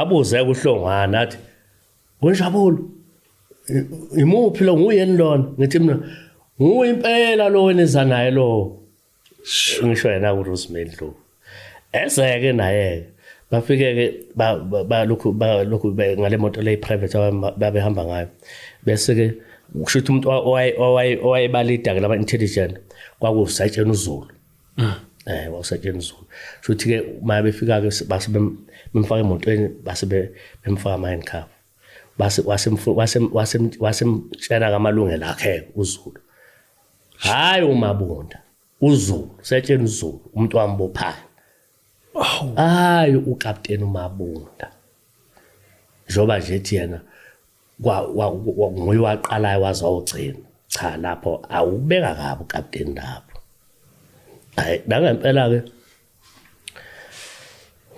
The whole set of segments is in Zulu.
abuze kuhlongwana athi wenjabulo imuphi lo nguyeni lona ngithi mina nguwe impela lo weniza naye lo ngisho yena uRosemary Ndlovu ezeke naye bafike ke balokhu balokhu ngale moto le private babehamba ngayo bese ke kusho ukuthi umuntu owayebalida ke laba intelligent kwakusatshena uzulu Mm. Eh wasetshenziswa. Shothi ke uma befika ke base bemfaka emotweni base bemfaka ama handcuff. Base wase wase wase wase mtshela kamalungelo akhe uZulu. Hayi umabonda. uZulu setsheni uZulu umuntu wambophayo hayi ukapteni uMabunda njoba nje ethi yena nguye waqalayo waze wawugcina cha lapho awubeka kabi ukapteni lapho hayi nangempela-ke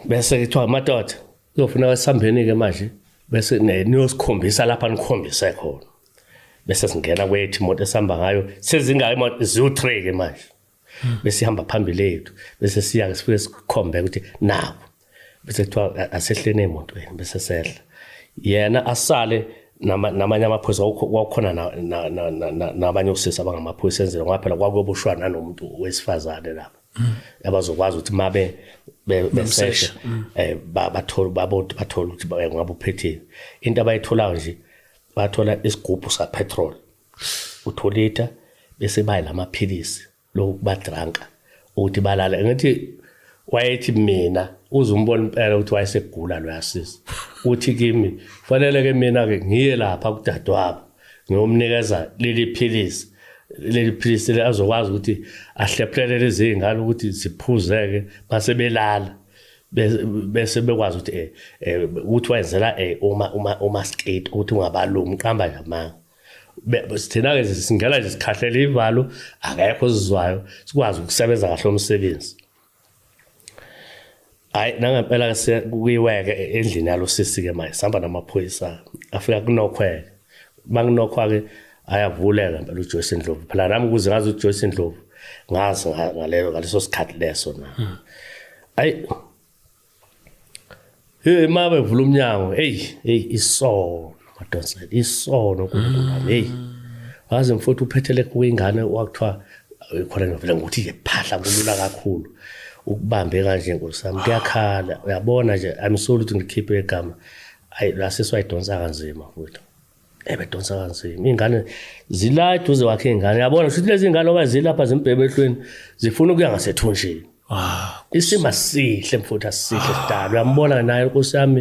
bese kuthiwa madoda kuyofuna wesihambeni-ke manje bese niyosikhombisa lapha nikhombise khona bese singena kwethu imoto esihamba ngayo sezingaka imoto ziwu-three-ke manje hmm. bese ihamba phambili yethu bese siya sifike sikhombe ukuthi nawo bese kuthiwa asehleni emotweni bese sehla yena asale namanye amaphoyisa kwakukhona nabanye osisi abangamaphoyisa enzela ngoba phela kwakuyobushwa nanomuntu wesifazane lapho hmm. abazokwazi ukuthi mabe beseshe hmm. eh, bathole babontu bathole ukuthi ngabe uphethile into abayitholayo nje bathola isigubhu sapetrol utholita bese bayi lamaphilisi lokuba drunk ukuthi balala ngathi wayethi mina uzumbona impela ukuthi wayesegula lo yasisi uthi kimi fanele ke mina ke ngiye lapha kudadewabo ngiyomnikeza leli philisi leli philisi azokwazi ukuthi ahlephulele lezi ngane ukuthi ziphuzeke base belala bese bekwazi ukuthi eh, eh ukuthi wayenzela eh, uma uma uma skate ukuthi ungabalumi qamba nje amanga thina-ke singena nje sikhahlela ivalo akekho sizwayo sikwazi ukusebenza kahle umsebenzi hayi nangempela kuyiweke endlini yalo sisi-ke manje sihamba namaphoyisa afika kunokhweke uma kunokhwa-ke ayavuleka mpela ujoyce ndlovu phela nami ukuze ngazi ujoyce ndlovu ngazi ngaleso sikhathi leso na hmm. ayi Hey mama evula umnyango. Hey, hey isono madoda. Isono kuNkulunkulu. Hey. Waze mfowethu uphethele kuyingane wakuthiwa khona ngivela ngokuthi nje phahla kulula kakhulu. Ukubambe kanje nkosami kuyakhala. Uyabona nje I'm sorry ukuthi ngikhiphe igama. Ayi lasiswa idonsa kanzima mfowethu. ebedonsa kanzima iy'ngane zila eduze wakhe iy'ngane yabona shuthi lezi ngane oba zilapha zimbhebehlweni zifuna ukuya ngasethunjini ah, isimo asihle mfuthu asihle sidalo uyambona naye nkosi yami